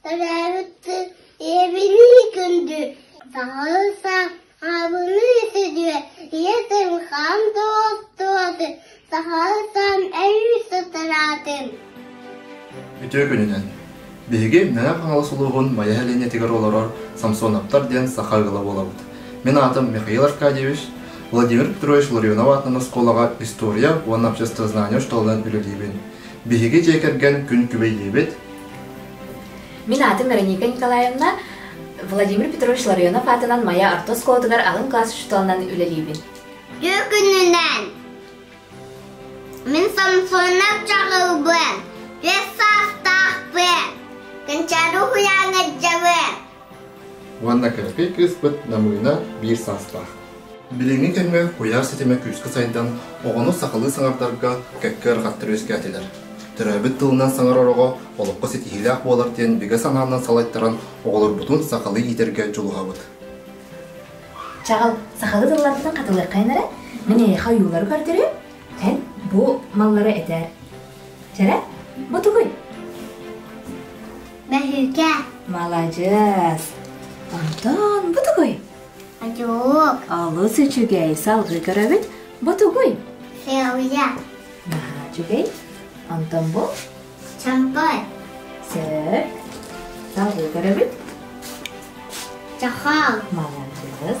Төрөөбүт ийэбинии күндү, саһылса, аабыныы сүдүө, ийэтин хаан туоттуотун, саһылсан эйис утараатын. Үтүө күнүнэн! Биһиги Мэҥэ Хаҥалас улууһун Майа сэлиэнньэтигэр олорор Самсоновтар диэн саха ыала буолабыт. Мин аатым Михаил Аркадьевич, Владимир Петрович Ларионов аатынан оскуолаҕа история уонна обществознание школынан үлэлиибин. Биһиги дьиэ кэргэн күн күбэйиибит. Мин аатым Вероника Николаевна. Владимир Петрович Ларионов аатынан Майа орто оскуолатыгар аҕам класс учууталынан үлэлиибин. Күнүнэн Мин Самсонов чаҕылбын, бэс саастаахпын, Кончару Хуяҥадьабын, Уонна кэппий кыыспыт Намыына биир саастаах. Билиҥҥи кэмҥэ куйаар ситимэ күүскэ сайдан, оҕону сахалыы саҥардарга кэккэ ыарахаттар үөскээтилэр. Төрөөбүт тылынан саҥарар оҕо олоххо ситиһиилээх буолар диэн бигэ санаанан салайтаран оҕолорбутун сахалыы иитэргэ дьулуһабыт. Чаҕыл, сахалыы тылларбытын хатылыаххайын эрэ, мин эйиэхэ ойуулары көрдөрүм. Эн бу маллары этээр. Чэрэ, бу тугуй? Мөһүүкэ. Маладьыас. Антон, бу тугуй? Адьук. Олус үчүгэй, салгыы көрөбүт. Бу тугуй? Сеуя. Наһаа үчүгэй. Антон бу? Чампай. Сөп. Салгыы көрөбүт. Чахал. Молодец.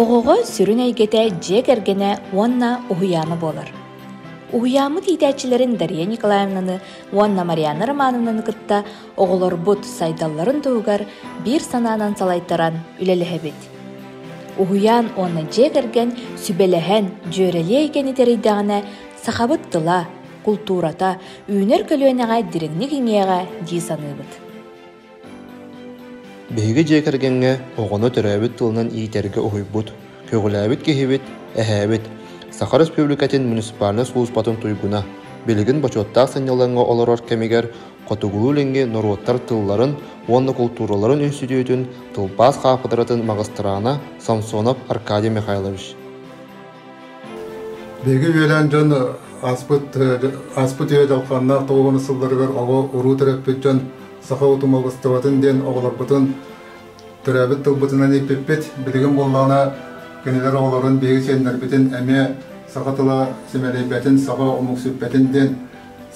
Оҕоҕо сүрүн эйгэтэ дьиэ кэргэнэ уонна уһуйаана буолар. Уһуйааммыт иитээччилэрин Дария Николаевнаны уонна Марианна Романовнаны кытта оҕолорбут сайдалларын туһугар биир санаанан салайтаран үлэлэһэбит. Уһуйаан уонна дьиэ кэргэн сүбэлэһэн, дьүөрэлии эйгэни тэрийдэҕинэ сахабыт тыла, култуурата, үүнэр көлүөнэҕэ дириҥник иҥиэҕэ дии саныыбыт. Биһиги дьиэ кэргэҥҥэ оҕону төрөөбүт тылынан иитэргэ уһуйбут, көҕүлээбит киһибит, эһээбит, Саха Республикатын муниципальнай сулууспатын туйгуна, билигин бочуоттаах сынньалаҥҥа олорор кэмигэр Хотугулуу-Илиҥҥи норуоттар тылларын уонна култуураларын үнүстүтүүтүн тылбаас хаапыдыратын магистраана Самсонов Аркадий Михайлович Биһиги үөлээн дьон ааспыт ааспыт үйэ дьалхааннаах толгуна сылларыгар оҕо-уруу төрөппүт дьон саха утумалыстыбатын диэн оҕолорбутун төрөөбүт тылбытынан ииппиппит. Билигин буоллаҕына кинилэр оҕолорун биһиги сиэннэрбитин эмиэ саха тыла симэлийбэтин, саха омуксуппэтин диэн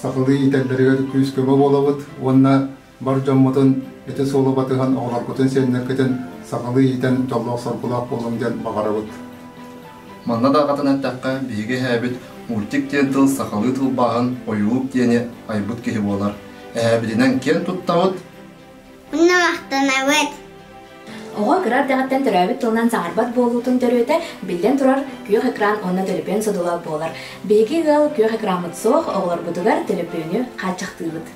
сахалыы иитэллэригэр күүс-көмө буолабыт уонна бар дьоммутун ити суолу батыһан оҕолоргутун сиэннэргитин сахалыы иитэн дьоллоох-соргулаах буолуҥ диэн баҕарабыт. Манна даҕатан эттэххэ, биһиги эһээбит мультик диэн тыл сахалыы тылбааһын ойуулук диэни айбыт киһи буолар. Эһээбитинэн киэн туттабыт! Уонна махтанабыт! Оҕо кыра эрдэҕиттэн төрөөбүт тылынан саҥарбат буолуутун төрүөтэ, биллэн турар, күөх экран уонна төлөпүөн судула буолар. Биһиги ыал күөх экраммыт суох, оҕолорбутугар төлөпүөнү хааччахтыыбыт.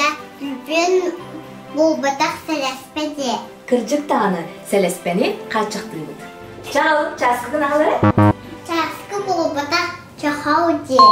Я төлөпүөн буолбатах сэлэспэ дии. Кырдьык даҕаны, сэлэспэни хааччахтыыбыт. Чаал, чааскы гынаалары? Чааскы буолбатах чохау дии.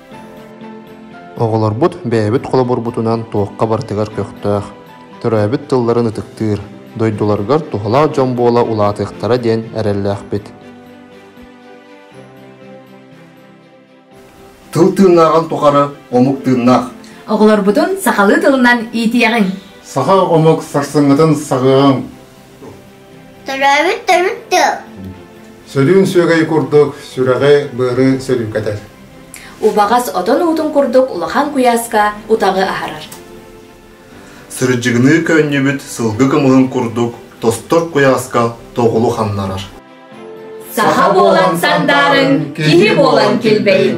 Оҕолорбут бэйэбит холобурбутунан туохха барытыгар көхтөөх, төрөөбүт тылларын ытыктыыр, дойдуларыгар туһалаах дьон буола улаатыахтара диэн эрэллээхпит. Тыл тыыннааҕын тухары омук тыыннаах. Оҕолорбутун сахалыы тылынан иитиэҕиҥ. Саха омук сарсыҥҥытын саҕыаҕыҥ. Төрөөбүт төрүт тыл. Сөрүүн сүөгэй курдук сүрэҕи, быары сөрүүкэтэр. Убаҕас отон уутун курдук улахан куйааска утаҕы аһарар. Сырдьыгыныы көөнньүбүт сылгы кымылын курдук тостор куйааска тоҕулу ханнарар. Саха буолан сандаарыҥ, киһи буолан килбэйин.